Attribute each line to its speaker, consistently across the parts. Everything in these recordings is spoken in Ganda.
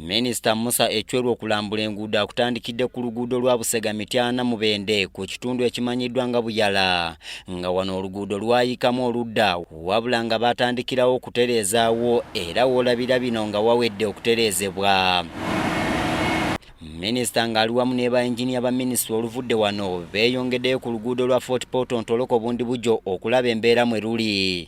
Speaker 1: Minisita Musa Ecweru okulambula enguudo akutandikidde ku luguudo lwa Busega Mityana Mubende ku kitundu ekimanyiddwa nga Buyala nga wano oluguudo lwayikamu oludda wabula nga baatandikirawo okutereezaawo era woolabira bino nga wawedde okutereezebwa. Minisita ng'ali wamu ne bayinginiya ba minisitule oluvudde wano beeyongeddeyo ku luguudo lwa Fort Portal Ntoloko Bundibugyo okulaba embeera mwe luli.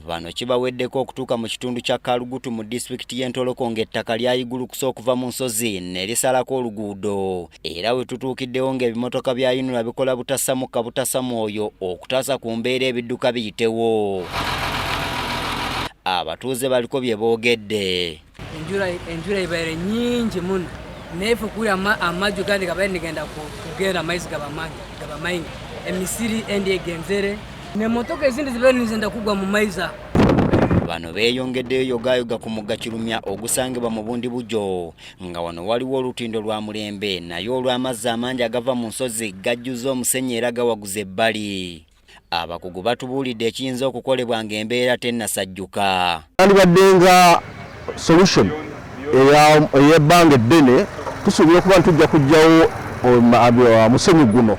Speaker 1: Bano kibaweddeko okutuuka mu kitundu kya Kalugutu mu disitulikiti y'e Ntoloko ng'ettaka lyayigulukusa okuva mu nsozi ne lisalako oluguudo era we tutuukiddewo ng'ebimotoka bya UNRA bikola butasamu kabutasa mwoyo okutaasa ku mbeera ebidduka biyitewo abatuuze baliko bye boogedde enjura
Speaker 2: ibaire nyingi muno nefe kuri amaju gandi gabaire nigenda kugenda amaizi gaba maingi emisiri endi egenzere nemotoka ezindi zibaire nizenda kugwa mu maizi ago bano beeyongeddeyo yogaayoga ku mugga kirumya ogusangibwa mu bundi bujjo nga wano waliwo olutindo lwa mulembe naye olw'amazzi amangi agava mu nsozi gajjuza omusenyi era gawaguza ebbali Abakugu batubuulidde ekiyinza okukolebwa ng'embeera tennasajjuka. Yandibadde nga
Speaker 3: solution ey'ebbanga eddene, tusuubira okuba nti tujja kuggyawo um, uh, musenyu guno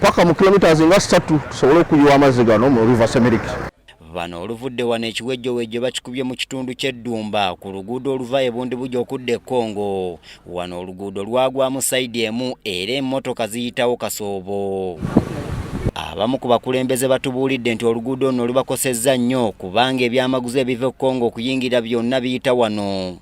Speaker 3: paka mu kilometres nga ssatu tusobole okuyiwa amazzi gano mu river semeriki. Bano
Speaker 1: oluvudde wano ekiwejjowejjo bakikubye mu kitundu ky'eddumba ku luguudo oluva e Bundibugyo okudda e Congo. Wano oluguudo lwagwamu sayidi emu era emmotoka ziyitawo kasoobo. Abamu ku bakulembeze batubuulidde nti oluguudo luno lubakosezza nnyo kubanga ebyamaguzi ebiva e Congo okuyingira byonna biyita wano.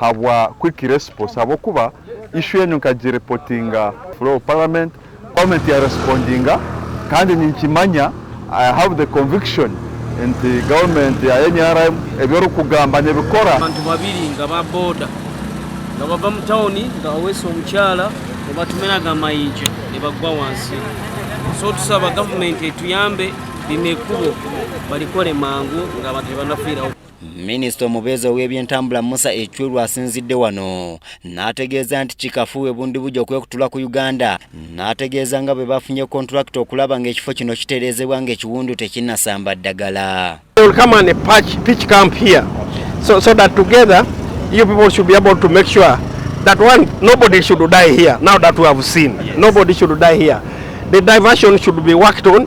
Speaker 4: habwa quick response habwokuba issue enu nkagirepotinga floor of parliament parliament ya respondinga kandi ninkimanya i have the conviction nti government ya nrm ebyorukugamba nebikora abantu babiri nga
Speaker 5: ba boda nga bava mu tawuni nga baweesa omukyala nebatumeraga amayinja nebagwa wansi so tusaba gavumenti etuyambe lino ekubo balikole mangu nga abantu tebanafiirawo Minisita
Speaker 1: omubeezi ow'ebyentambula Musa Ecweru asinzidde wano n'ategeeza nti kikafuuwe bundibugya okwekutula ku Uganda n'ategeeza nga bwe bafunye kontulakita okulaba ng'ekifo kino kitereezebwa ng'ekiwundu tekinnasamba ddagala
Speaker 6: that one nobody should die here now that we have seen nobody should die here the diversion should be worked on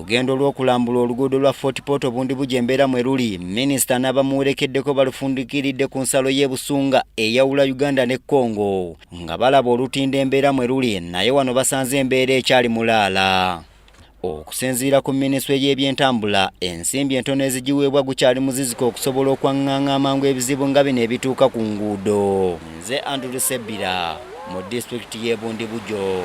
Speaker 6: Olugendo lw'okulambula
Speaker 1: oluguudo lwa Fort Portal Bundibugyo embeera mwe luli, minisita n'abamuwerekeddeko balufundikiridde ku nsalo y'e Busunga eyawula Uganda ne Congo nga balaba olutindo embeera mwe luli naye wano basanze embeera ekyali mulaala. Okusinziira ku minisitule y'ebyentambula, ensimbi entono ezigiweebwa gukyali muziziko okusobola okwang'anga amangu ebizibu nga bino ebituuka ku nguudo. Nze Andrew Sebbira mu disitulikiti y'e Bundibugyo.